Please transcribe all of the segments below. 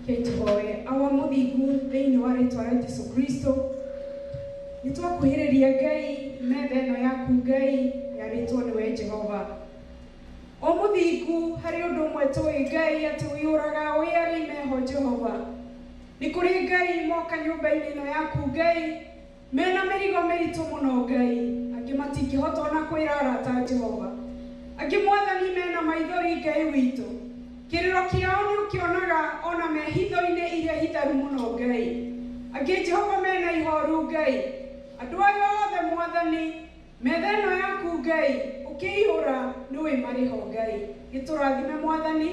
Reke tũhoe. Awa Mũthingu, thĩinĩ wa rĩtwa rĩa Jesu Kristo, nĩ twakuhĩrĩria Ngai metha ĩno yaku Ngai yarĩtwo nĩwe Jehova. O Mũthingu, harĩ ũndũ ũmwe tũĩ Ngai atĩ ũiyũraga ũĩ arĩa imeho Jehova. Nĩ kũrĩ Ngai moka nyũmba-inĩ ĩno yaku Ngai Me na mĩrigo mĩritũ mũno Ngai. Angĩ matingĩhota o na kwĩra arata a Jehova. Angĩ Mwathani me na maithori Ngai witũ. Kĩrĩro kĩao nĩũkĩonaga o na me hitho-inĩ iria hitharu mũno Ngai. Angĩ Jehova me na ihoru Ngai. Andũ aya othe Mwathani. Metha ĩno yaku Ngai ũkĩihũra nĩ wĩ marĩho Ngai gĩtũrathime mwathani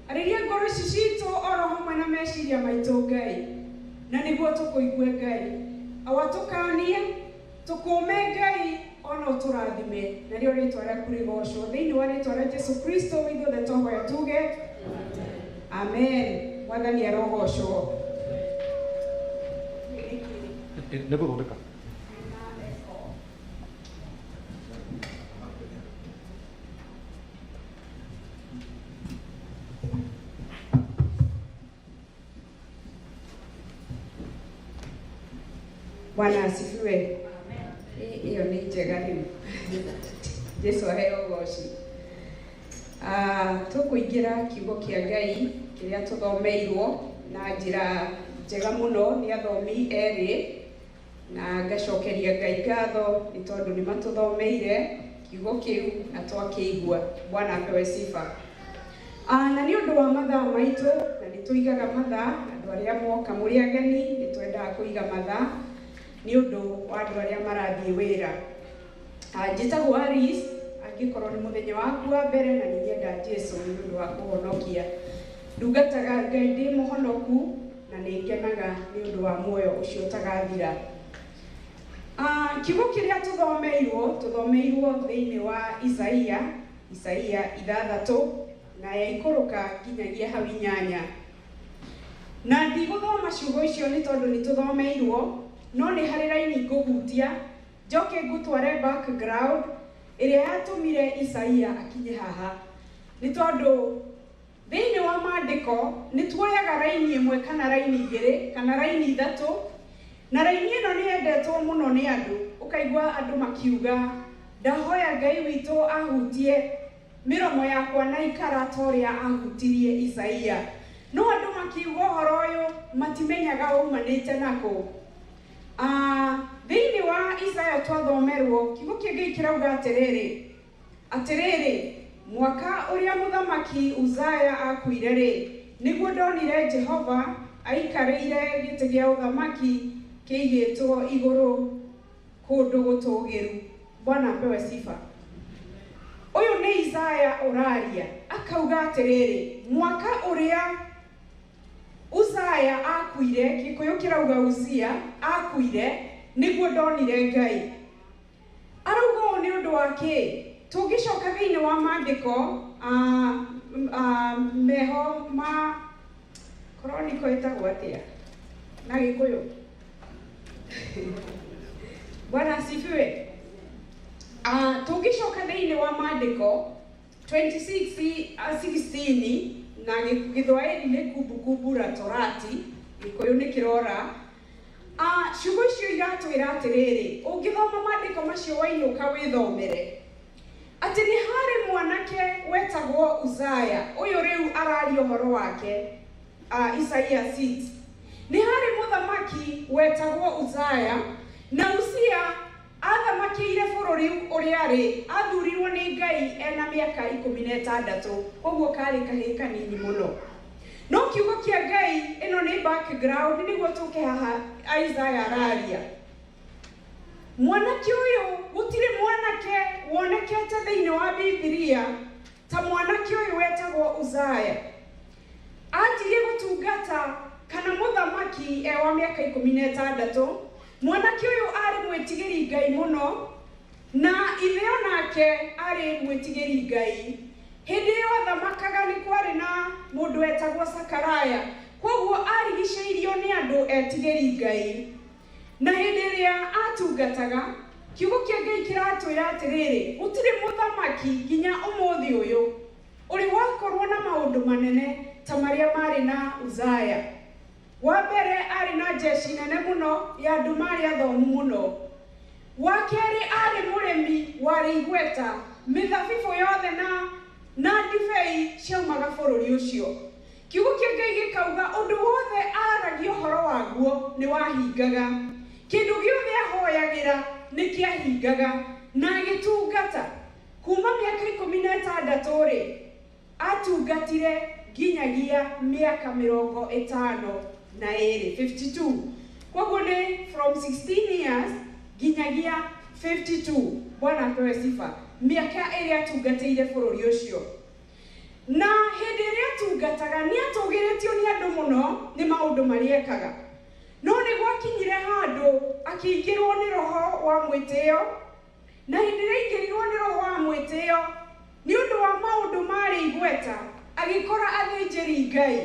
arĩria ngoro ici citũ oro hamwe na meciria maitũ Ngai na nĩguo tũkũigue Ngai awa tũkanie tũkũme Ngai ona ũtũrathime narĩo rĩtwa rĩaku rĩgocwo thĩinĩ wa rĩtwa rĩa Jesu Kristo ithuothe twahoya tuge Amen mwathani arogocwo. Nĩ gũthondeka. Bwana asifiwe. Hii- Hiyo ni njega rĩu. Jesu aheo ũgooci. Ah, Tũkũingĩra kiugo kĩa Ngai kĩrĩa tũthomeirwo na njĩra njega mũno nĩ athomi erĩ Na ngacokeria Ngai ngatho nĩ tondũ nĩ matũthomeire kiugo kĩu na twakĩigua. Bwana apewe sifa. Ah, na nĩ ũndũ wa mathaa maitũ, na nĩ tũigaga mathaa, andũ arĩa moka mũrĩ ageni, nĩ twendaga kũiga mathaa nĩ ũndũ wa andũ arĩa marathiĩ wĩra. Ah, Njĩtagwo Alice, angĩkorwo nĩ mũthenya waku wa mbere na nĩnyenda Jesu nĩ ũndũ wa kũhonokia. Ndungataga Ngai ndĩ mũhonoku na nĩngenaga nĩ ũndũ wa muoyo ũcio ũtagathira. Ah, Kiugo kĩrĩa tũthomeirwo, tũthomeirwo thĩinĩ wa Isaia, Isaia ithathatũ na yaikũrũka nginyagia hau inyanya. Na ndigũthoma ciugo icio nĩ tondũ nĩ tũthomeirwo, no nĩ harĩ raini ngũhutia Njoke ngũtware background ĩrĩa yatũmire Isaia akinye haha. Nĩ tondũ thĩinĩ wa maandĩko nĩ tuoyaga raini ĩmwe kana raini igĩrĩ kana raini ithatũ, na raini ĩno nĩ yendetwo mũno nĩ andũ. Ũkaigua andũ makiuga, Ndahoya Ngai witũ ahutie mĩromo yakwa na ikara ta ũrĩa ahutirie Isaia. No andũ makiuga ũhoro ũyũ matimenyaga waumanĩte na kũ. A Thĩinĩ wa Isaia twathomerũo, Kiugo kĩa Ngai kĩrauga atĩrĩrĩ, Atĩrĩrĩ, mwaka ũrĩa Mũthamaki Uzaia aakuire-rĩ, nĩguo ndonire Jehova aikarĩire gĩtĩ gĩa ũthamaki kĩigĩtwo igũrũ kũndũ gũtũũgĩru. Bwana apewe sifa. Ũyũ nĩ Isaia ũraria, akauga atĩrĩrĩ, Mwaka ũrĩa Uzaya aakuire, Gĩkũyũ kĩrauga Uzia aakuire, nĩguo ndonire Ngai. Arauga ũũ nĩ ũndũ wa kĩĩ? Tũngĩcoka thĩinĩ wa maandĩko, a, a, meho ma Chronicle ĩtagwo atĩa na Gĩkũyũ? Bwana asifiwe. A, tũngĩcoka thĩinĩ wa maandĩko, 26:16 na Gĩ- gĩthwaĩri nĩ kumbukumbu la torati gĩkũyũ nĩ kĩrora A, ciugo icio iratwĩra atĩrĩrĩ ũngĩthoma maandĩko macio wainũka wĩthomere atĩ nĩ harĩ mwanake wetagwo uzaya ũyũ rĩu araria ũhoro wake uh, isaia 6 nĩ harĩ mũthamaki wetagwo uzaya na usia Aathamakĩire bũrũri ũrĩarĩ athurirwo nĩ Ngai ena mĩaka ikũmi na ĩtandatũ, kwoguo karĩ kahĩĩ kanini mũno. No kiugo kĩa Ngai, ĩno nĩ back ground nĩguo tũke haha Isaiah araria. Mwanake ũyũ, gũtirĩ mwanake wonekete thĩinĩ wa Bibilia ta mwanake ũyũ wetagwo Uzziah. Anjirie gũtungata kana mũthamaki e wa mĩaka ikũmi na ĩtandatũ. Mwanake ũyũ aarĩ mwĩtigĩri Ngai mũno, na ithe o nake aarĩ mwĩtigĩri Ngai. Hĩndĩ ĩyo athamakaga nĩ kwarĩ na mũndũ wetagwo Sakaraya, kwoguo aarigicĩirio nĩ andũ etigĩri Ngai. Na hĩndĩ ĩrĩa aatungataga, Kiugo kĩa Ngai kĩratwĩra atĩrĩrĩ, gũtirĩ mũthamaki nginya ũmũthĩ ũyũ. Ũrĩ wakorũo na maũndũ manene ta marĩa maarĩ na Uzaya. Wa mbere, aarĩ na njeshi nene mũno ya andũ maarĩ athomu mũno. Wa kerĩ, aarĩ mũrĩmi warĩ igweta, mĩthabibũ yothe na na ndibei ciaumaga bũrũri ũcio. Kiugo kĩa Ngai gĩkauga ũndũ wothe aaragia ũhoro waguo nĩ wahingaga. Kĩndũ gĩothe ahoyagĩra nĩ kĩahingaga. Na agĩtungata Kuuma mĩaka ikũmi na ĩtandatũ-rĩ, aatungatire nginyagia mĩaka mĩrongo ĩtano na ĩĩrĩ, 52. Kwoguo nĩ from 16 years nginyagia 52. Bwana apewe sifa. Mĩaka ĩrĩa aatungatĩire bũrũri ũcio. Na hĩndĩ ĩrĩa aatungataga, nĩ aatũgĩrĩtio nĩ andũ mũno nĩ maũndũ marĩa ekaga. No nĩ gwakinyire handũ akĩingĩrũo nĩ roho wa mwĩtĩo Na hĩndĩ ĩrĩa aingĩrirũo nĩ roho wa mwĩtĩo nĩ ũndũ wa maũndũ maarĩ igweta, agĩkora athĩnjĩri-Ngai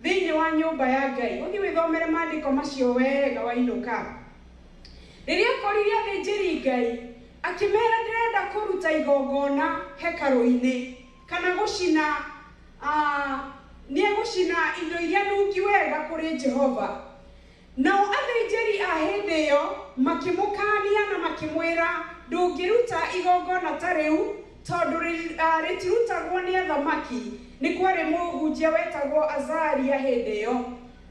thĩinĩ wa nyũmba ya Ngai. Ũthiĩ wĩthomere maandĩko macio wega wainũka. Rĩrĩa akorire athĩnjĩri-Ngai, akĩmera, Ndĩrenda kũruta igongona hekarũ-inĩ, kana gũcina, a, nĩ egũcina indo iria nungi wega kũrĩ Jehova. Nao athĩnjĩri a hĩndĩ ĩyo makĩmũkaania na makĩmwĩra, Ndũngĩruta igongona ta rĩu, tondũ rĩtirutagwo nĩ athamaki. Nĩ kwarĩ mũhunjia wetagwo Azaria hĩndĩ ĩyo.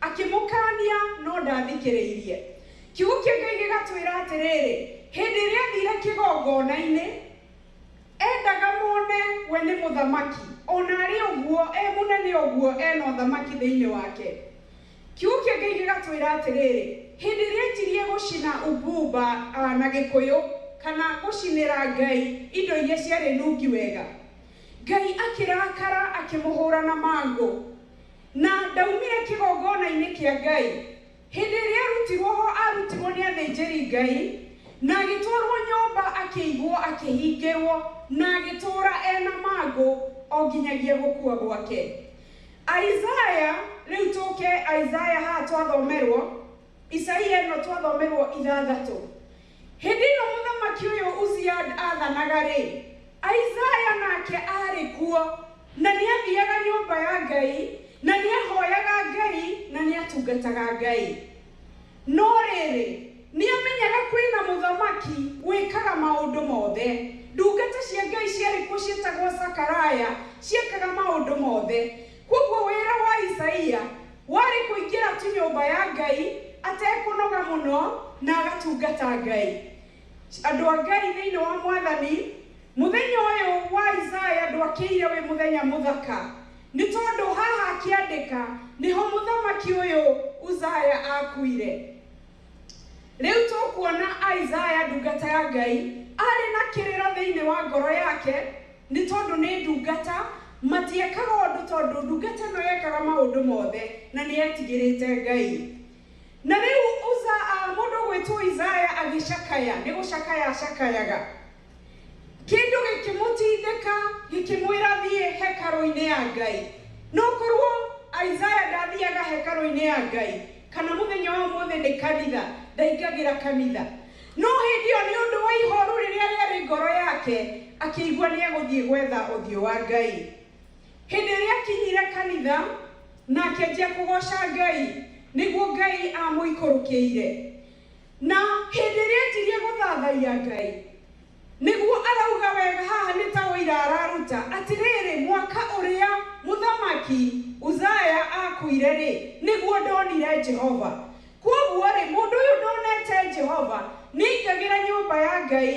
Akĩmũkaania, no ndaathikĩrĩirie. Kiugo kĩa Ngai gĩgatwĩra atĩrĩrĩ, Hĩndĩ ĩrĩa aathiire kĩgongona-inĩ, eendaga mone we nĩ mũthamaki, o na arĩ ũguo e mũnene ũguo e na ũthamaki thĩinĩ wake. Kiugo kĩa Ngai gĩgatwĩra atĩrĩrĩ, Hĩndĩ ĩrĩa enjirie gũcina Ubumba, na Gĩkũyũ, kana gũcinĩra Ngai indo iria ciarĩ nungi wega, Ngai akĩrakara akĩmũhũra na mangũ, na ndaumire kĩgongona-inĩ kĩa Ngai. Hĩndĩ ĩrĩa arutirwo ho arutirwo nĩ athĩnjĩri Ngai, na agĩtwarwo nyũmba akĩigwo akĩhingĩrwo, na agĩtũũra ena mangũ o nginyagia gũkua gwake. Isaya, rĩu tũke Isaya haha twathomerwo, Isaia ĩno twathomerwo ithathatũ. Hĩndĩ ĩyo mũthamaki ũyũ Uzia athanaga-rĩ, Isaya nake arĩ kuo, na nĩathiaga nyũmba ya Ngai, na nĩahoyaga Ngai, na nĩatungataga Ngai. No rĩrĩ, nĩamenyaga kwĩ na mũthamaki wĩkaga maũndũ mothe. Ndungata cia Ngai ciarĩ kuo cietagwo Sakaraya ciekaga maũndũ mothe. Kwoguo wĩra wa Isaia warĩ kũingĩra tu nyũmba ya Ngai atekũnoga mũno na agatungata Ngai. Andũ a Ngai thĩinĩ wa Mwathani, mũthenya ũyũ wa Isaia ndwakĩire wĩ mũthenya mũthaka. Nĩ tondũ haha akĩandĩka nĩho mũthamaki ũyũ Uzaya aakuire. Rĩu tũkuona Isaya ndungata ya Ngai arĩ na kĩrĩro thĩinĩ wa ngoro yake nĩ tondũ nĩ ndungata, matiekaga ũndũ tondũ ndungata ĩno yekaga maũndũ mothe na nĩ yetigĩrĩte Ngai. Na rĩu Uza, a, mũndũ ũgwĩtwo Isaya agĩcakaya, nĩ gũcakaya acakayaga. Kĩndũ gĩkĩmũtindĩka gĩkĩmwĩra thiĩ hekarũ-inĩ ya Ngai. No korwo Isaya ndathiaga hekarũ-inĩ ya Ngai, kana mũthenya wa ũmũthĩ ndĩ kanitha, ndaingagĩra kanitha. No hĩndĩ ĩyo nĩ ũndũ wa ihooru rĩrĩa rĩarĩ ngoro yake, akĩigua nĩ egũthiĩ gwetha ũthiũ wa Ngai. Hĩndĩ ĩrĩa akinyire kanitha na akĩanjia kũgooca Ngai, nĩguo Ngai aamũikũrũkĩire. Na hĩndĩ ĩrĩa enjirie gũthathaiya Ngai, nĩguo arauga wega haha nĩ ta ũira araruta, atĩrĩrĩ, mwaka ũrĩa mũthamaki Uzaya aakuire-rĩ, nĩguo ndonire Jehova. Kwoguo-rĩ, mũndũ ũyũ ndonete Jehova nĩaingagĩra nyũmba ya Ngai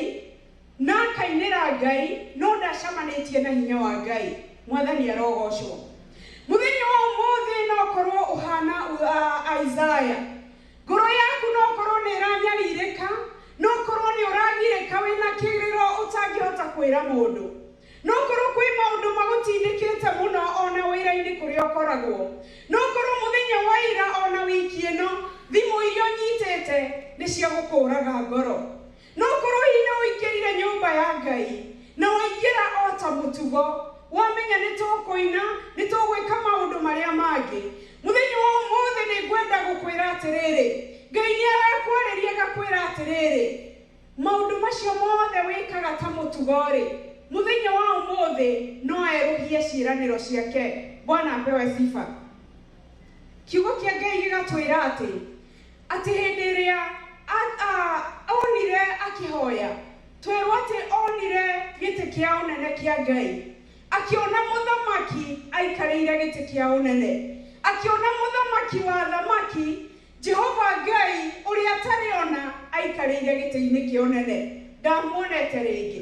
na akainĩra Ngai, no ndacamanĩtie na hinya wa Ngai. Mwathani arogoocwo. Mũthenya wa ũmũthĩ no ũkorwo ũhaana Isaya. Ngoro yaku no ũkorũo nĩ ĩranyarirĩka, no ũkorũo nĩ ũragirĩka wĩ na kĩrĩro ũtangĩhota kwĩra mũndũ. No ũkorũo kwĩ maũndũ magũtindĩkĩte mũno o na wĩra-inĩ kũrĩa ũkoragwo. No ũkorũo mũthenya wa ira o na wiki ĩno thimũ iria ũnyitĩte nĩ cia gũkũũraga ngoro. No korwo hihi nĩũingĩrire nyũmba ya Ngai, na waingĩra o ta mũtugo, wamenya nĩtũkũina, nĩtũgwĩka maũndũ marĩa mangĩ, mũthenya wa ũmũthĩ nĩngwenda gũkwĩra atĩrĩrĩ, Ngai nĩarakwarĩria agakwĩra atĩrĩrĩ, maũndũ macio mothe wĩkaga ta mũtugo-rĩ, mũthenya wa ũmũthĩ no erũhie ciĩranĩro ciake. Bwana apewe sifa. Kiugo kĩa Ngai gĩgatwĩra atĩ Atĩ hĩndĩ ĩrĩa onire akĩhoya, twerwo atĩ onire gĩtĩ kĩa ũnene kĩa Ngai, akĩona mũthamaki aikarĩire gĩtĩ kĩa ũnene, akĩona mũthamaki wa athamaki, Jehova Ngai ũrĩa atarĩ ona aikarĩire gĩtĩ-inĩ kĩa ũnene, ndamuonete rĩngĩ.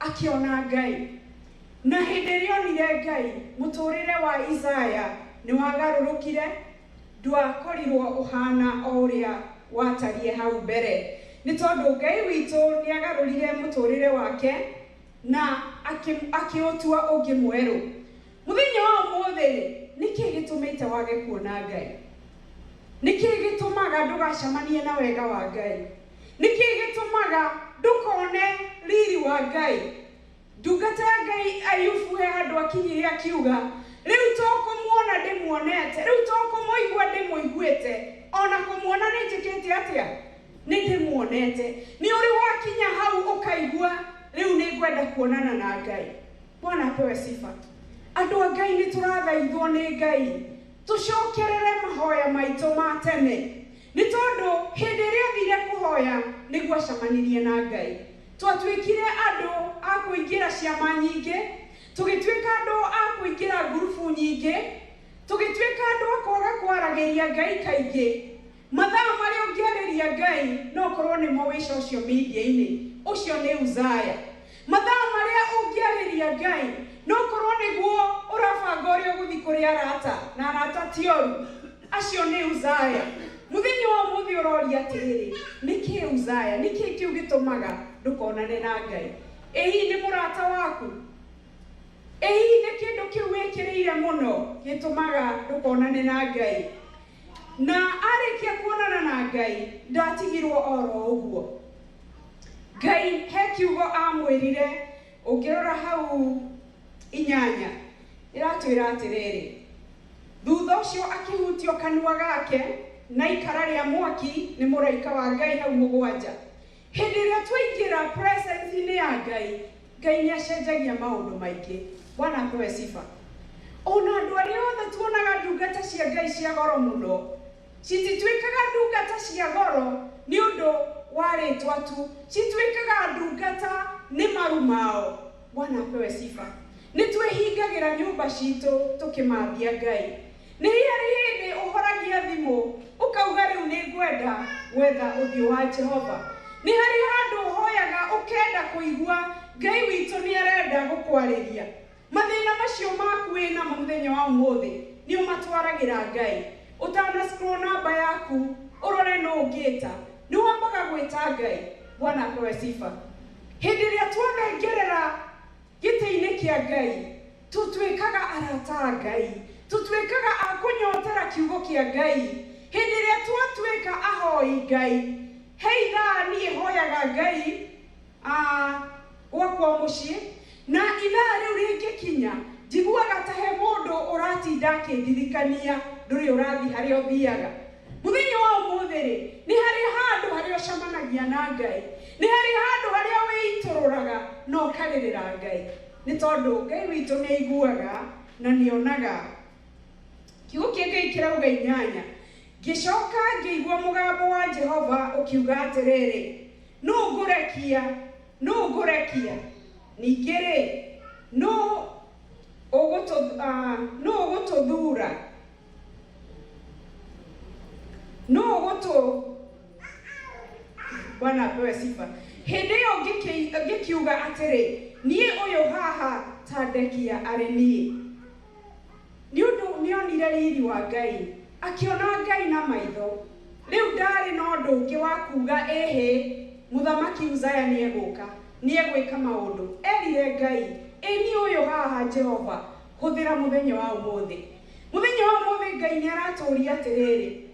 akĩona Ngai. Na hĩndĩ ĩrĩa onire Ngai, mũtũũrĩre wa Isaya nĩwagarũrũkire, ndwakorirwo ũhaana o ũrĩa watariĩ hau mbere. Nĩ tondũ Ngai witũ nĩagarũrire mũtũũrĩre wake na akĩũtua ũngĩ mwerũ. Mũthenya wa ũmũthĩ-rĩ, nĩ kĩĩ gĩtũmĩte wage kuona Ngai? Nĩ kĩĩ gĩtũmaga ndũgacamanie na wega wa Ngai? Nĩ kĩĩ gĩtũmaga ndũkone riri wa Ngai? Ndungata ya Ngai Ayubu he handũ akinyire akiuga, Rĩu to kũmuona ndĩmuonete, rĩu to kũmũigua ndĩmũiguĩte, o na kũmuona nĩ njĩkĩte atĩa? Nĩ ndĩmuonete. Nĩ ũrĩ wakinya hau ũkaigua, Rĩu nĩ ngwenda kuonana na Ngai. Bwana apewe sifa. Andũ a Ngai nĩ tũrathaithwo nĩ Ngai tũcokerere mahoya maitũ ma tene. Nĩ tondũ hĩndĩ ĩrĩa aathire kũhoya nĩguo acamanirie na Ngai, twatuĩkire andũ a kũingĩra ciama nyingĩ, tũgĩtuĩka andũ a kũingĩra ngurubu nyingĩ, tũgĩtuĩka andũ a kwaga kwaragĩria Ngai kaingĩ. Mathaa marĩa ũngĩarĩria Ngai no ũkorũo nĩmo wĩ social media-inĩ. Ũcio nĩ Uzaya. Mathaa marĩa ũngĩarĩria Ngai. No ũkorũo nĩguo ũrabanga ũrĩa ũgũthiĩ kũrĩ arata, na arata ti oru. Acio nĩ Uzaya. Mũthenya wa ũmũthĩ ũroria atĩrĩrĩ, Nĩ kĩĩ Uzaya? Nĩ kĩĩ kĩu gĩtũmaga ndũkonane na Ngai? Ĩ hihi nĩ mũrata waku? Ĩ hihi nĩ kĩndũ kĩu wĩkĩrĩire mũno gĩtũmaga ndũkonane na Ngai? Na arĩkia kuonana na Ngai, ndaatigirwo o ro ũguo. Ngai he kiugo aamwĩrire, ũngĩrora hau inyanya, ĩratwĩra atĩrĩrĩ, Thutha ũcio akĩhutio kanua gake na ikara rĩa mwaki nĩ mũraika wa Ngai hau mũgwanja. Hĩndĩ ĩrĩa twaingĩra presence inĩ ya Ngai, Ngai nĩ acenjagia maũndũ maingĩ. Bwana apewe sifa. Ona andũ arĩa othe tuonaga ndungata cia Ngai cia goro mũno, citituĩkaga ndungata cia goro nĩ ũndũ wa rĩtwa tu, cituĩkaga ndungata nĩ maru mao. Bwana apewe sifa. Nĩ twĩhingagĩra nyũmba citũ tũkĩmambia Ngai, Nĩ hĩarĩ hĩndĩ ũhoragia thimũ ũkauga rĩu nĩ ngwenda gwetha ũthiũ wa Jehova? Nĩ harĩ handũ ũhoyaga ũkenda kũigua Ngai witũ nĩ arenda gũkwarĩria? Mathĩna macio maku wĩ namo mũthenya wa ũmũthĩ nĩ ũmatwaragĩra Ngai? Ũtana scroll namba yaku ũrore nũ ũngĩta, nĩ wambaga gwĩta Ngai? Bwana apewe sifa. Hĩndĩ ĩrĩa twathengerera gĩtĩ-inĩ kĩa Ngai, Tũtuĩkaga arata a Ngai. Tũtuĩkaga a kũnyotera Kiugo kĩa Ngai hĩndĩ ĩrĩa twatuĩka ahoi Ngai. He ithaa niĩ hoyaga Ngai a gwakwa mũciĩ, na ithaa rĩu rĩngĩkinya, njiguaga ta he mũndũ ũratinda akĩndirikania, Ndũrĩ ũrathiĩ harĩa ũthiaga? Mũthenya wa ũmũthĩ-rĩ, nĩ harĩ handũ harĩa ũcemanagia na Ngai? Nĩ harĩ handũ harĩa wĩitũrũraga na ũkarĩrĩra Ngai? Nĩ tondũ Ngai witũ nĩ aiguaga na nĩ onaga. Kiugo kĩa Ngai kĩrauga inyanya, Ngĩcoka ngĩigua mũgambo wa Jehova ũkiuga atĩrĩrĩ, Nũ ngũrekia? Nũ ngũrekia? Ningĩ-rĩ, nũ ũgũtũ, ah, nũ ũgũtũthuura? Nũ ũgũtũ... bwana apewe sifa hĩndĩ ĩyo ngĩkĩ- ngĩkiuga atĩrĩ niĩ ũyũ haha ta ndekia arĩ niĩ nĩ ũndũ nĩonire riri wa ngai akĩona ngai na maitho rĩu ndaarĩ na ũndũ ũngĩ wa kuuga ĩhĩ mũthamaki uzaya nĩegũka nĩegwĩka maũndũ erire ngai ĩ niĩ ũyũ haha jehova hũthĩra mũthenya wa ũmũthĩ mũthenya wa ũmũthĩ ngai nĩaratũũria atĩrĩrĩ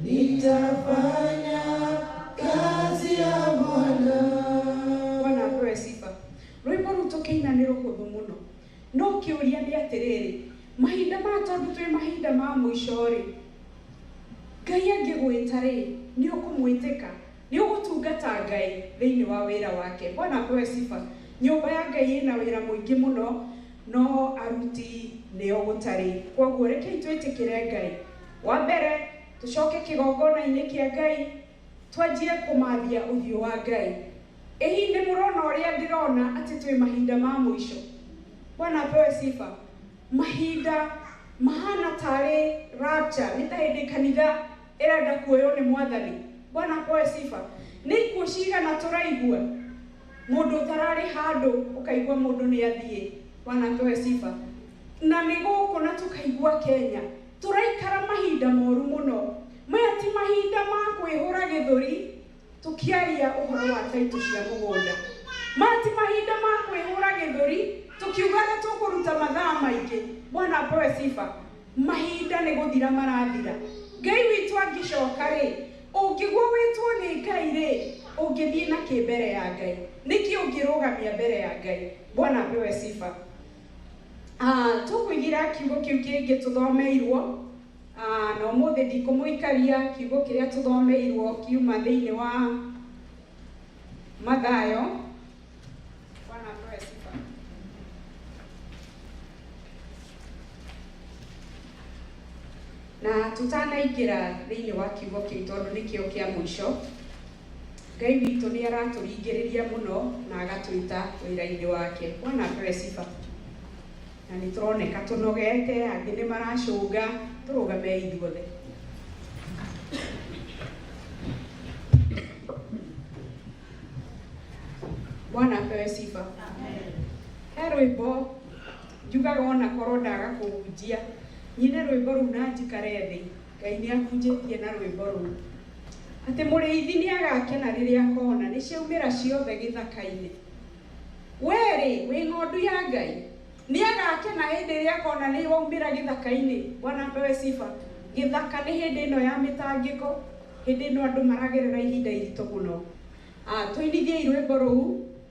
Nitafanya kazi ya Bwana. Bwana apewe sifa. Rwĩmbo rũu tũkĩina nĩ rũhũthũ mũno. No kĩũria nĩ atĩrĩrĩ, mahinda maya tondũ twĩ mahinda ma mũico-rĩ, Ngai angĩgwĩta-rĩ, nĩ ũkũmwĩtĩka? Nĩ ũgũtungata Ngai thĩinĩ wa wĩra wake? Bwana apewe sifa. Nyũmba ya Ngai ĩna wĩra mũingĩ mũno, no aruti nĩo gũtarĩ. Kwoguo rekei twĩtĩkĩre Ngai Wa mbere, tũcoke kĩgongona-inĩ kĩa Ngai, twanjie kũmathia ũthiũ wa Ngai. Ĩ hihi nĩ mũrona ũrĩa ndĩrona atĩ twĩ mahinda ma mũico? Bwana apewe sifa. Mahinda mahana tarĩ rapture, nĩ ta hĩndĩ kanitha ĩrenda kuoywo nĩ Mwathani. Bwana apewe sifa. Nĩ ikuũ cigana tũraigua? Mũndũ ũtararĩ handũ, ũkaigua mũndũ nĩ athiĩ. Bwana apewe sifa. Na nĩ gũkũ na tũkaigua Kenya. Tũraikara mahinda moru mũno. Maya ti mahinda ma kwĩhũra gĩthũri tũkĩaria ũhoro wa taitũ cia mũgũnda. Maya ti mahinda ma kwĩhũra gĩthũri tũkiuga nĩ tũkũruta mathaa maingĩ. Bwana apewe sifa. Mahinda nĩ gũthira marathira. Ngai witũ angĩcoka-rĩ, ũngĩgwa wĩtwo nĩ Ngai-rĩ, ũngĩthiĩ na kĩ mbere ya Ngai? Nĩkĩ ũngĩrũgamia mbere ya Ngai? Bwana apewe sifa. Tũkũigĩra kiugo kĩu kĩngĩ tũthomeirwo, na ũmũthĩ ndikũmũikaria, kiugo kĩrĩa tũthomeirwo kiuma thĩinĩ wa Mathayo. Bwana apewe sifa. Na tũtanaingĩra thĩinĩ wa kiugo kĩu tondũ nĩkĩo kĩa mũico, Ngai witũ nĩ aratũringĩrĩria mũno na agatwĩta wĩra-inĩ wake. Bwana apewe sifa. Na nĩ tũroneka tũnogete, angĩ nĩ maracũnga, tũrũgame ithuothe. Bwana apewe sifa. He rwĩmbo njugaga ona korwo ndaga kũhunjia, nyine rwĩmbo rũu na njikare thĩ. Ngai nĩ ahunjĩtie na rwĩmbo rũu, Atĩ mũrĩithi nĩ agakena rĩrĩa akona nĩ ciaumĩra ciothe gĩthaka-inĩ. Wee-rĩ, wĩ ng'ondu ya Ngai, nĩ agakena hĩndĩ ĩrĩa akona nĩ waumĩra gĩthaka-inĩ. Bwana apewe sifa. Gĩthaka nĩ hĩndĩ ĩno ya mĩtangĩko, hĩndĩ ĩno andũ maragerera ihinda iritũ mũno. Tũinithiei rwĩmbo rũu.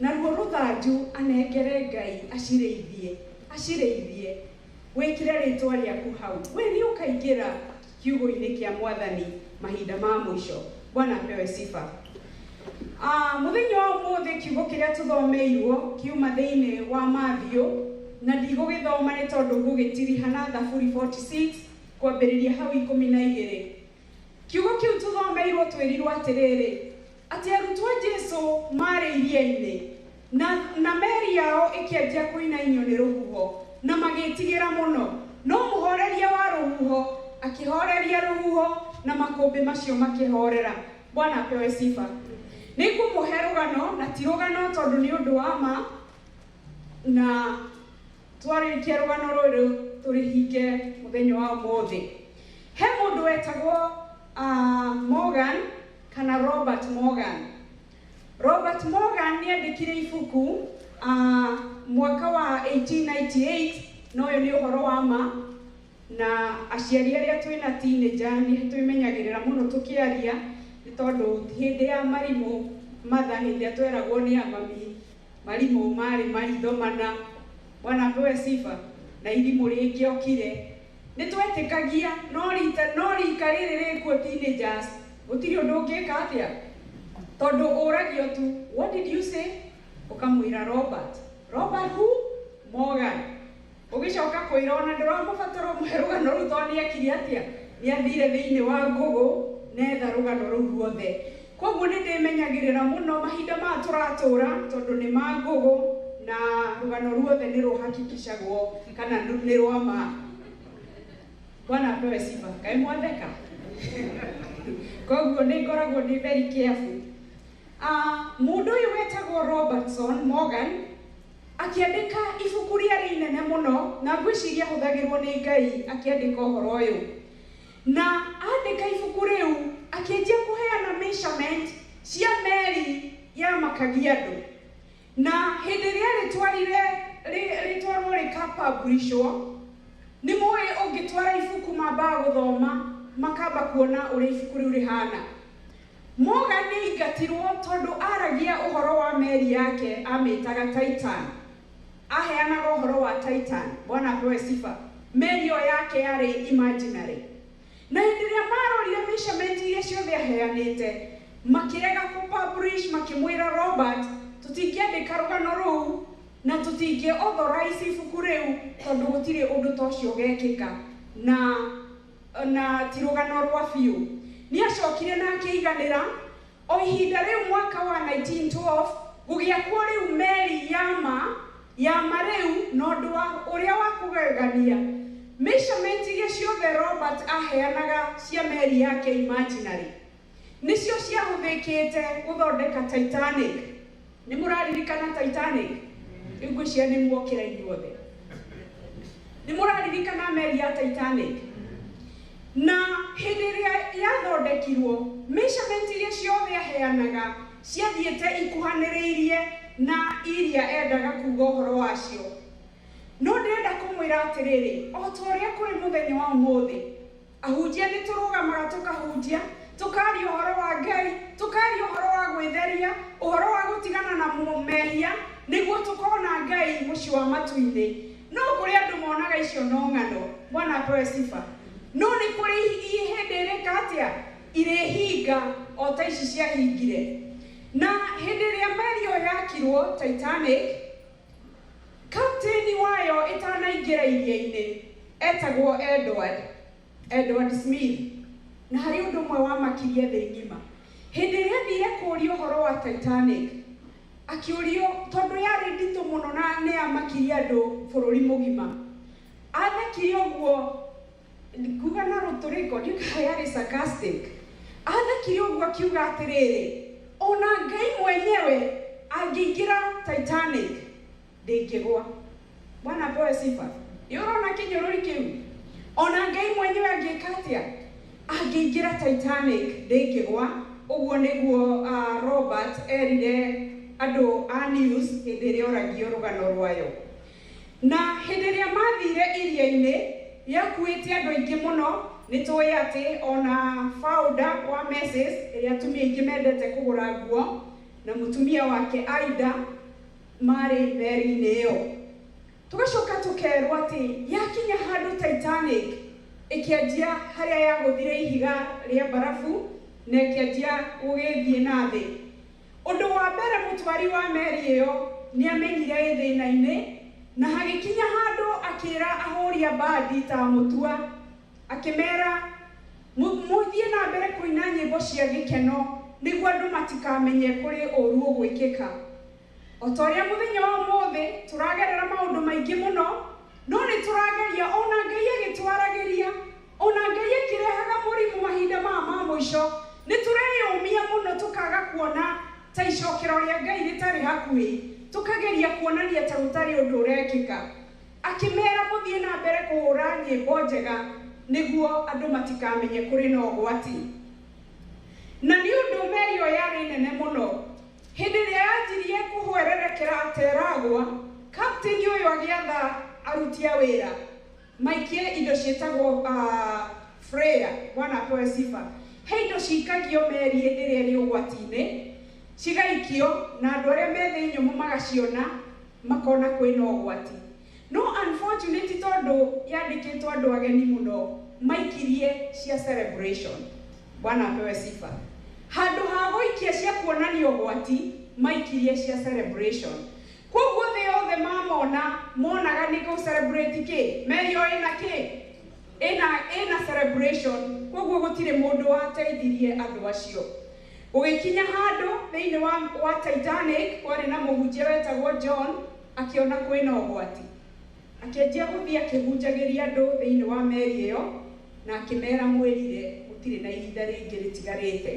Naruo rũthanju anengere Ngai acirĩithie, acirĩithie. Wĩkĩre rĩĩtwa rĩaku hau. Wee nĩũkaingĩra kiugũinĩ kĩa Mwathani mahinda ma mũico. Bwana apewe sifa. Aah, mũthenya wa ũmũthĩ kiugo kĩrĩa tũthomeirwo kiuma thĩinĩ wa Mathiũ, na ndigũgĩthoma nĩ tondũ ngũgĩtiriha na Thaburi 46 kwambĩrĩria hau ikũmi na igĩrĩ. Kiugo kĩu tũthomeirwo twĩrirwo atĩrĩrĩ, Atĩ arutwo a Jesu maarĩ iria-inĩ, na, na meri yao ĩkĩanjia kũinainio nĩ rũhuho, na magĩĩtigĩra mũno. No mũhooreria wa rũhuho akĩhooreria rũhuho, na makũmbĩ macio makĩhoorera. Bwana apewe sifa. Nĩ ngũmũhe rũgano, na ti rũgano tondũ nĩ ũndũ wa ma, na, twarĩkia rũgano rũrũ tũrĩhinge mũthenya wa ũmũthĩ he mũndũ wetagwo uh, morgan kana robert morgan robert morgan nĩ andĩkire ibuku uh, mwaka wa 1898 na ũyũ nĩ ũhoro wa ma na aciari arĩa twĩ na tinĩnja nĩ twĩmenyagĩrĩra mũno tũkĩaria nĩ tondũ hĩndĩ ya marimũ matha hĩndĩ ĩrĩa tweragwo nĩ amami Marimũ marĩ maitho mana. Bwana apewe sifa. Na irimũ rĩngĩokire. Nĩ twetĩkagia, no rita, no rika rĩrĩ rĩkuo teenagers gũtirĩ ũndũ ũngĩka atĩa? Tondũ ũragio tu, what did you say? Ũkamwĩra Robert. Robert who? Morgan. Ũgĩcoka kwĩra ona ndũramũbatara ũmũhe rũgano rũu tondũ nĩekire atĩa? Nĩathire thĩinĩ wa Google na etha rũgano rũu ruothe. Kwoguo nĩndĩmenyagĩrĩra mũno mahinda maya tũratũũra tondũ nĩ ma Google na rũgano ruothe nĩrũ hakikishagwo kana nĩ rwa ma. Bwana apewe sifa. Kaĩ mwatheka? Kwoguo nĩngoragwo ndĩ very careful. Mũndũ ũyũ wetagwo Robertson Morgan Akĩandĩka ibuku rĩarĩ inene mũno, na ngwĩciria ahũthagĩrũo nĩ Ngai akĩandĩka ũhoro ũyũ. Na andĩka ibuku rĩu, akĩanjia kũheana measurement cia meri yamakagia andũ. Na hĩndĩ ĩrĩa arĩtwarire rĩtwarũo rĩka publishũo, nĩ mũĩ ũngĩtwara ibuku mambaga gũthoma, makamba kuona ũrĩa ibuku rĩu rĩhana. Morgan nĩ aingatirũo tondũ aaragia ũhoro wa meri yake amĩtaga Titan. Aheanaga ũhoro wa Titan, Bwana apewe sifa, meri ĩyo yake yarĩ imaginary. Na hĩndĩ ĩrĩa maarorire measurement iria ciothe aheanĩte, makĩrega kũ publish, makĩmwĩra, Robert, tũtingĩandĩka rũgano rũu na tũtingĩ authorize ibuku rĩu tondũ gũtirĩ ũndũ ta ũcio ũgekĩka. Na. na ti rũgano rwa biũ. Nĩ acokire na akĩiganĩra. O ihinda rĩu mwaka wa 1912 gũgĩakwo rĩu meri ya ma ya ma rĩu, na ũndũ ũrĩa wa kũgegania, mĩcamenti iria ciothe Robert aaheanaga cia meri yake imaginarĩ, Nĩcio ciahũthĩkĩte gũthondeka Titanic. Nĩ mũraririkana Titanic? Rĩu ngwĩciria nĩ mwokĩra inyuothe. Nĩ mũraririkana meri ya Titanic? Na hĩndĩ ĩrĩa yathondekirwo, measurement iria ciothe yaheanaga ciathiĩte ikuhanĩrĩirie na iria endaga kuuga ũhoro wacio. No ndĩrenda kũmwĩra atĩrĩrĩ, o ta ũrĩa kũrĩ mũthenya wa ũmũthĩ, Ahunjia nĩ tũrũgamaga tũkahunjia, tũkaaria ũhoro wa Ngai, tũkaaria ũhoro wa gwĩtheria, ũhoro wa gũtigana na mehia nĩguo tũkona Ngai mũciĩ wa matu-inĩ. No kũrĩ andũ monaga icio no ng'ano. Bwana apewe sifa. No nĩ kũrĩ hĩndĩ irĩka atĩa? Irĩhinga o ta ici ciahingire. Na hĩndĩ ĩrĩa meri ĩyo yakirwo, Titanic, Kapteni wayo ĩtanaingĩra iria-inĩ eetagwo Edward, Edward Smith, na harĩ ũndũ ũmwe wamakirie thĩ ng'ima. Hĩndĩ ĩrĩa aathiire kũũria ũhoro wa Titanic, akĩũrio tondũ yarĩ nditũ mũno na nĩ yamakirie andũ bũrũri mũgima. Aathekire ũguo Nguga na rũtũrĩko, ndiugaga yarĩ sarcastic. Aathekire ũguo akiuga atĩrĩrĩ, O na Ngai mwenyewe angĩingĩra Titanic, ndĩngĩgwa. Bwana apewe sifa. Nĩ ũrona kĩnyũrũri kĩu? O na Ngai mwenyewe angĩka atĩa? Angĩingĩra Titanic, ndĩngĩgwa. Ũguo nĩguo Robert eerire andũ a News hĩndĩ ĩrĩa oragio rũgano rwayo. Na hĩndĩ ĩrĩa maathiire iria-inĩ rĩakuuĩte andũ aingĩ mũno, nĩ tũũĩ atĩ o na founder wa Macy's, ĩrĩa atumia aingĩ mendete kũgũra nguo, na mũtumia wake Ida maarĩ meri-inĩ ĩyo. Tũgacoka tũkerũo atĩ yakinya handũ Titanic, ĩkĩanjia harĩa yagũthire ihiga rĩa mbarabu na ĩkĩanjia gũgĩthiĩ na thĩ. Ũndũ wa mbere mũtwari wa meri ĩyo nĩ aamenyire ĩ thĩna-inĩ, na hagĩkinya handũ akĩra ahũri a mbandi ta Mũtua, akĩmera, Mũthiĩ na mbere kũina nyĩmbo cia gĩkeno nĩguo andũ matikamenye kũrĩ ũũru ũgwĩkĩka. O ta ũrĩa mũthenya wa ũmũthĩ tũragerera maũndũ maingĩ mũno, no nĩ tũrageria, o na Ngai agĩtwaragĩria. O na Ngai akĩrehaga mũrimũ mahinda maya ma mũico, nĩ tũreyũmia mũno tũkaga kuona ta icokero rĩa Ngai rĩtarĩ hakuhĩ, tũkageria kuonania ta gũtarĩ ũndũ ũrekĩka. Akĩmera, Mũthiĩ na mbere kũhũũra nyĩmbo njega nĩguo andũ matikamenye kũrĩ na ũgwati. Na nĩ ũndũ meri ĩyo yarĩ nene mũno, hĩndĩ ĩrĩa yanjirie kũhwererekera ta ĩragwa, kapteni ũyũ agĩatha aruti a wĩra Maingĩ indo ciĩtagwo Freya wana Toe Sifa he indo cikagio meri ĩrĩa ĩrĩ ũgwati-inĩ cigaikio na andũ arĩa me thĩ nyũmũ magaciona makona kwĩna ũgwati no unfortunately tondũ yandĩkĩtwo andũ ageni mũno maikirie cia celebration wana Apewe Sifa handũ ha gũikia cia kuonania ũgwati maikirie cia celebration. Kwoguo thĩ yothe mamona monaga nĩ kũ celebrate kĩ? Merio ĩna kĩ? Ĩna, ĩna celebration. Kwoguo gũtirĩ mũndũ wateithirie andũ acio. Gũgĩkinya handũ thĩinĩ wa, wa Titanic, kwarĩ na mũhunjia wetagwo John, akĩona kwĩna ũgwati. Akĩanjia gũthiĩ akĩhunjagĩria andũ thĩinĩ wa meri ĩyo, na akĩmeera, Mwĩrire, gũtirĩ na ihinda rĩngĩ rĩtigarĩte.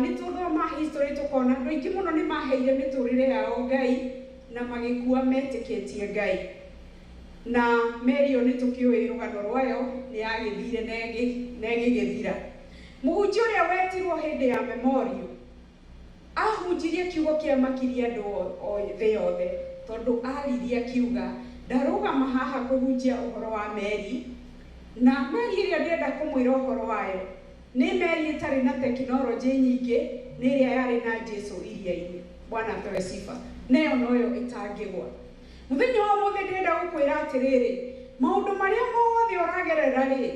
Nĩ tũthoma history tũkona andũ aingĩ mũno nĩ maaheire mĩtũũrĩre yao Ngai na magĩkua metĩkĩtie Ngai. Na meri ĩyo nĩ tũkĩũĩ rũgano rwayo, nĩ yagĩthire na ĩgĩgĩthira. Mũhunjia ũrĩa wetirũo hĩndĩ ya memorial. Aahunjirie kiugo kĩa makiri andũ thĩ yothe, tondũ aaririe akiuga, Ndarũgama haha kũhunjia ũhoro wa meri, na meri ĩrĩa ndĩrenda kũmwĩra ũhoro wayo nĩ meri ĩtarĩ na tekinoronjĩ nyingĩ, nĩ ĩrĩa yarĩ na Jesu iria-inĩ. Bwana apewe sifa. Na ĩyo noyo ĩtangĩgwa. Mũthenya wa ũmũthĩ ndĩrenda gũkwĩra atĩrĩrĩ, maũndũ marĩa mothe ũragerera-rĩ,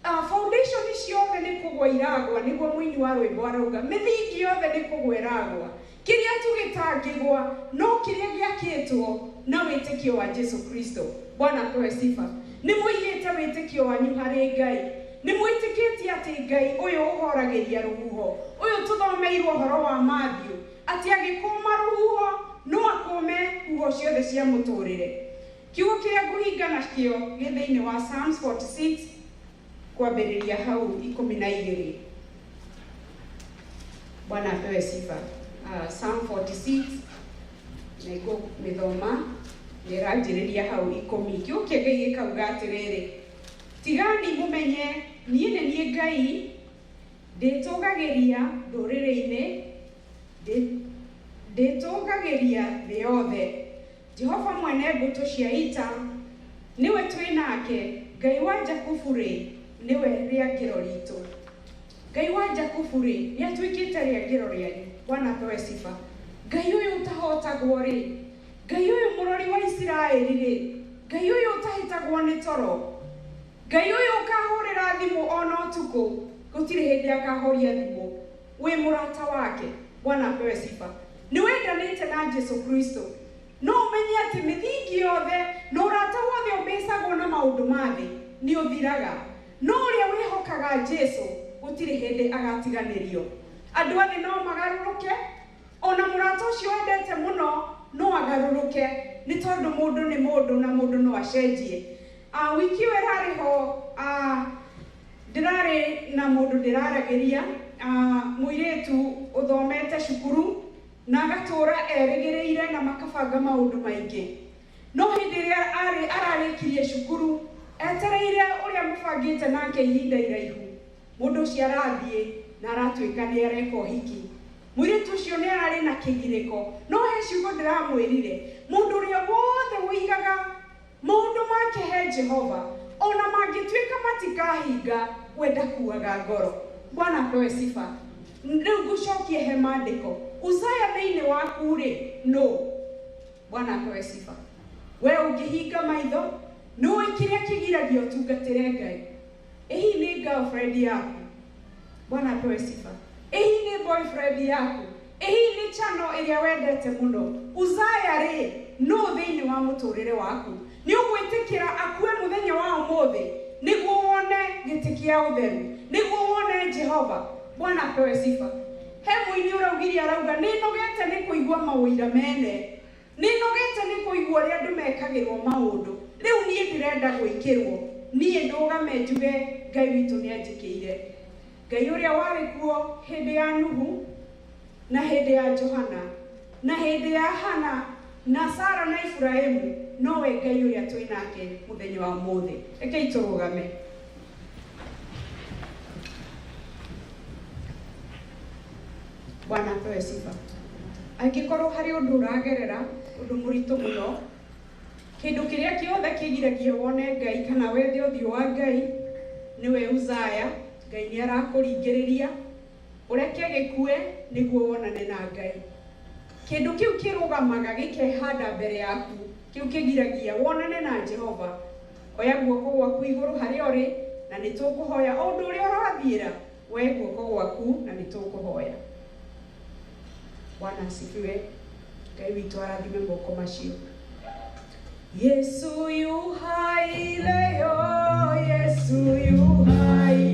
A, Foundation ciothe nĩ kũgwa iragwa, nĩguo mũini wa rwĩmbo arauga. Mĩthingi yothe nĩ kũgwa ĩragwa. Kĩrĩa tu gĩtangĩgwa no kĩrĩa gĩakĩtwo na wĩtĩkio wa Jesu Kristo. Bwana apewe sifa. Nĩ mũigĩte wĩtĩkio wanyu harĩ Ngai? Nĩ mwĩtĩkĩtie atĩ Ngai ũyũ ũhoragĩria rũhuho, ũyũ tũthomeirwo ũhoro wa Matthew, atĩ agĩkũũma rũhuho, no akũũme huho ciothe cia mũtũũrĩre? Kiugo kĩrĩa ngũhinga nakĩo gĩ thĩinĩ wa Psalms 46 kwambĩrĩria hau ikũmi na igĩrĩ. Bwana apewe sifa. Uh, Psalm 46 na ikũmĩthoma nĩranjĩrĩria hau ikũmi. Kiugo kĩa Ngai gĩkauga atĩrĩrĩ, tigani mũmenye niĩ nĩ niĩ Ngai ndĩtũgagĩria ndũrĩrĩ-inĩ ndĩtũgagĩria thĩ yothe Jehova mwene mbũtũ cia ita, nĩwe twĩ nake, Ngai wa Jakubu-rĩ, nĩwe rĩangĩro riitũ. Ngai wa Jakubu-rĩ, nĩatuĩkĩte rĩangĩro rĩanyu, Bwana apewe sifa. Ngai ũyũ ũtahootagwo-rĩ, Ngai ũyũ Mũrori wa Isiraeli-rĩ, Ngai ũyũ ũtahĩtagwo nĩ toro, Ngai ũyũ ũkahũũrĩra thimũ o na ũtukũ, gũtirĩ hĩndĩ akahoria thimũ. Wĩ mũrata wake. Bwana apewe sifa. Nĩ wendanĩte na Jesu Kristo. No ũmenye atĩ mĩthingi yothe na ũrata wothe ũmĩcagwo na maũndũ ma thĩ nĩ ũthiraga. No ũrĩa wĩhokaga Jesu gũtirĩ hĩndĩ agatiganĩrio. Andũ a thĩ no magarũrũke, o na mũrata ũcio wendete mũno no agarũrũke, nĩ tondũ mũndũ nĩ mũndũ na mũndũ no acenjie. Ah wiki ĩyo ĩrarĩ ho ah Ndĩrarĩ na mũndũ ndĩraragĩria ah Mũirĩtu ũthomete cukuru na agatũũra erĩgĩrĩire na makabanga maũndũ maingĩ No hĩndĩ ĩrĩa arĩ ararĩkirie cukuru etereire ũrĩa mũbangĩte nake ihinda iraihu Mũndũ ũcio arathiĩ na aratuĩka nĩareka ũhiki Mũirĩtu ũcio nĩararĩ na kĩgirĩko No he ciugo ndĩramwĩrire Mũndũ ũrĩa wothe ũigaga Maũndũ ma kĩhe Jehova o na mangĩtuĩka matikahinga we ndakuaga ngoro. Bwana apewe sifa. Rĩu ngũcokie he maandĩko. Uzaya thĩinĩ waku rĩ nũ? Bwana apewe sifa. We ũngĩhinga maitho, nĩũĩ kĩrĩa kĩgiragia ũtungatĩre Ngai? Ehi ni girlfriend yaku. Bwana apewe sifa. Ehi ni boyfriend yaku. Ehi ni channel ĩrĩa wendete mũno. Uzaya rĩ, nũũ thĩinĩ wa mũtũrĩre waku? Nĩ ũgwĩtĩkĩra akue mũthenya wa ũmũthĩ nĩguo wone gĩtĩ kĩa ũtheru? Nĩguo wone Jehova? Bwana apewe sifa. He mũini ũraugirie arauga, Nĩnogete nĩ kũigua maũira mene. Nĩ nogete nĩ kũigua ũrĩa andũ mekagĩrwo maũndũ. Rĩu niĩ ndĩrenda gwĩkĩrwo. Niĩ ndũgame njuge Ngai witũ nĩ anjĩkĩire. Ngai ũrĩa warĩ kuo hĩndĩ ya Nuhu, na hĩndĩ ya Johana, na hĩndĩ ya Hana, na Sara, na Iburahimu, nowe Ngai ũrĩa twĩ nake mũthenya wa ũmũthĩ. Rekei tũrũgame. Bwana apewe sifa. Angĩkorwo harĩ ũndũ ũragerera ũndũ mũritũ mũno, kĩndũ kĩrĩa kĩothe kĩgiragia wone Ngai kana wethe ũthiũ wa Ngai nĩwe Uzaya. Ngai nĩ arakũringĩrĩria ũreke gĩkue nĩguo wonane na Ngai. Kĩndũ kĩu kĩrũgamaga gĩkehanda mbere yaku, kĩu kĩgiragia wonane na Jehova. Oya guoko gwaku igũrũ harĩa ũrĩ, na nĩ tũkũhoya. O ũndũ ũrĩa ũrathiĩra, woe guoko gwaku, na nĩ tũkũhoya. Bwana asifiwe. Ngai witũ arathime moko macio. Yesu yu hai leo, Yesu yu hai.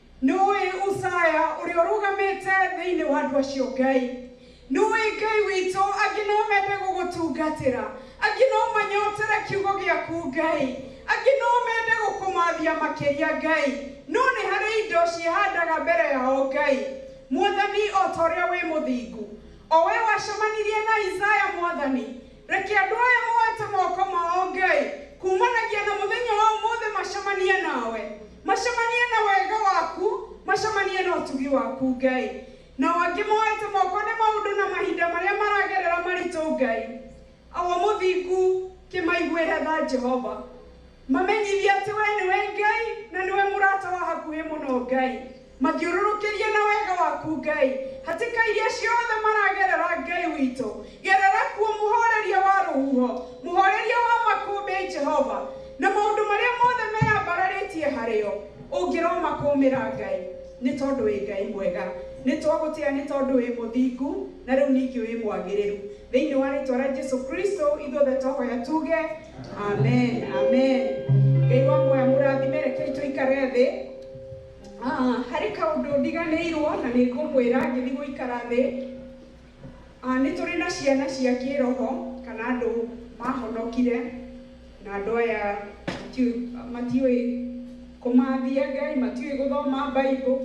Nũũĩ Usaya ũrĩa ũrũgamĩte thĩinĩ wa andũ acio Ngai? Nũũĩ Ngai witũ? Angĩ no mende gũgũtungatĩra. Angĩ no manyotere kiugo gĩaku Ngai. Angĩ no mende gũkũmathia makĩria Ngai. No nĩ harĩ indo ciĩhandaga mbere yao Ngai. Mwathani o ta ũrĩa wĩ mũthingu. O we wacemanirie na Isaya Mwathani. Reke andũ aya moete moko mao, Ngai, kumanagia na mũthenya wa ũmũthĩ macemanie nawe. Macemanie na wega waku, macemanie na ũtugi waku, Ngai. Nao angĩ moete moko nĩ maũndũ na mahinda marĩa maragerera maritũ, Ngai. Awa mũthingu, kĩmaiguĩre tha, Jehova. Mamenyithie atĩ we nĩwe Ngai, na nĩwe mũrata wa hakuhĩ mũno, Ngai. Mathiũrũrũkĩrie na wega waku Ngai. Hatĩka iria ciothe maragerera Ngai witũ, gerera kuo Mũhooreria wa rũhuho, Mũhooreria wa makũmbĩ, Jehova, Na maũndũ marĩa mothe meyambararĩtie harĩo, Ũngĩromakũũmĩra Ngai, nĩ tondũ wĩ Ngai mwega, Nĩ twagũtĩa nĩ tondũ wĩ mũthingu, Na rĩu ningĩ wĩ mwagĩrĩru. Thĩinĩ wa rĩtwa rĩa Jesu Kristo ithuothe twahoya tuge, Amen, Amen. Ngai wa muoyo amũrathime. Rekei tũikare thĩ. Ah, harĩ kaũndũ ndiganĩirwo na nĩ ngũmwĩra ngĩthiĩ gũikara thĩ. Ah, nĩ tũrĩ na ciana cia kĩroho kana andũ mahonokire na andũ aya matiũĩ kũmathia Ngai, matiũĩ gũthoma Bible.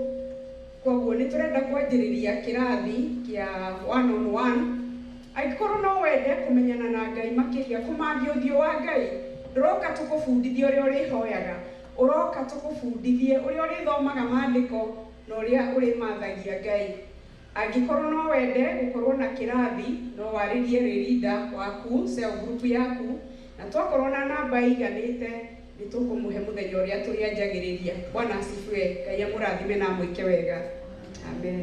Koguo nĩ tũrenda kwanjĩrĩria kĩrathi kĩa one on one. Angĩkorwo no wende kũmenyana na Ngai makĩria, kũmathia ũthiũ wa Ngai, ndũroka tũkũbundithie ũrĩa ũrĩhoyaga. Ũroka tũgũbundithie ũrĩa ũrĩthomaga maandĩko na ũrĩa ũrĩmathagia Ngai. Angĩkorwo no wende gũkorwo na kĩrathi, no warĩrie rĩrinda waku, cell group, yaku na twakorwo na namba ĩiganĩte nĩ tũkũmũhe mũthenya ũrĩa tũrĩanjagĩrĩria. Bwana asifiwe. Ngai amũrathime na amwĩke wega. Amen.